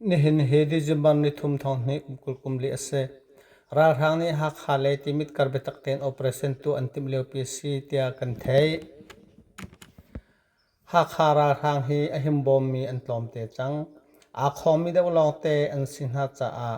Nihin hi December nithum thawng hnih kum kul kum li a si. Ralhrang nih Hakha le Timit kar biatak tein operation tuah an timh liopi a si tiah kan theih. Hakha ralhrang hi a himbawmmi an tlawmte cang. Aa khawmmi deuh lawngte an si hna caah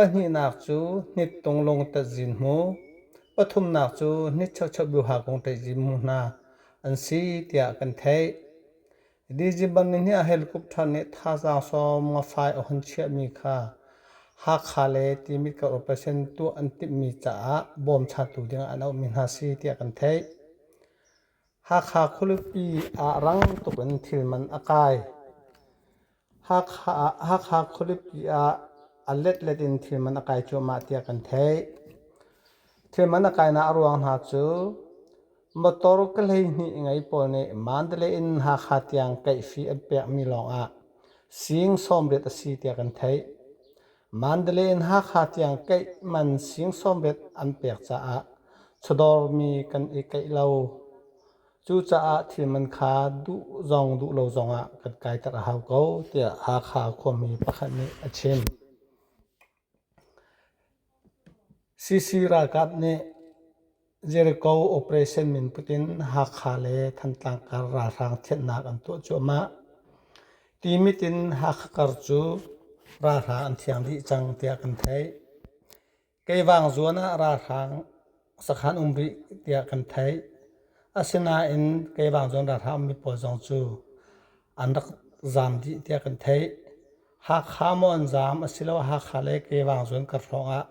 Pahnihnak cu hnit tunglung tatzin hmu, pathumnak cu hnit cheucheu biuha kung ṭeizin hmu hna an si tiah kan theih. December ni hnih ah helicopter nih thazaang sawm nga fai a hun chiahmi kha Hakha le Timit kar operation tuah an timhmi caah bawmchatu dingah an auhmi hna si tiah kan theih. Hakha khualipi ah rang tuk in thil man a kai. Hakha khualipi ah a letlet in thil man a kai cuahmah tiah kan theih. Thil man a kainak a ruang hna cu motor ka hleihnih ngei pawl nih Mandalay in Hakha tiang kaihfi an pekmi lawngah sing sawmriat a si tiah kan theih. Mandalay in Hakha tiang kaih man sing sawmbet an pek caah chawdawr mi kan i kaih lo. Cucaah thil man kha duh zong duh lo zongah kan kaiter a hau ko tiah Hakha khuami pakhat nih a chim. CC ralkap nih Jericho operation min put in Hakha le Thantlang kar ralhrang thianhnak an tuah cuahmah. Ti mit in Hakha kar cu ralhrang an thiang rih cang tiah kan theih. Keivang zuan ah ralhrang sakhan um rih tiah kan theih. Asinain Keivang zuan ralhrang ummi pawl zong cu an rak zaam dih tiah kan theih. Hakha maw an zaam asiloah Hakha le Kevang zuanker hrawng ah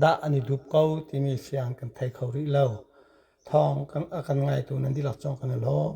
dah an i dup ko timi siang kan thei kho rih lo. Thawng a kan ngaitu nan dihlak cungah kan i lawm.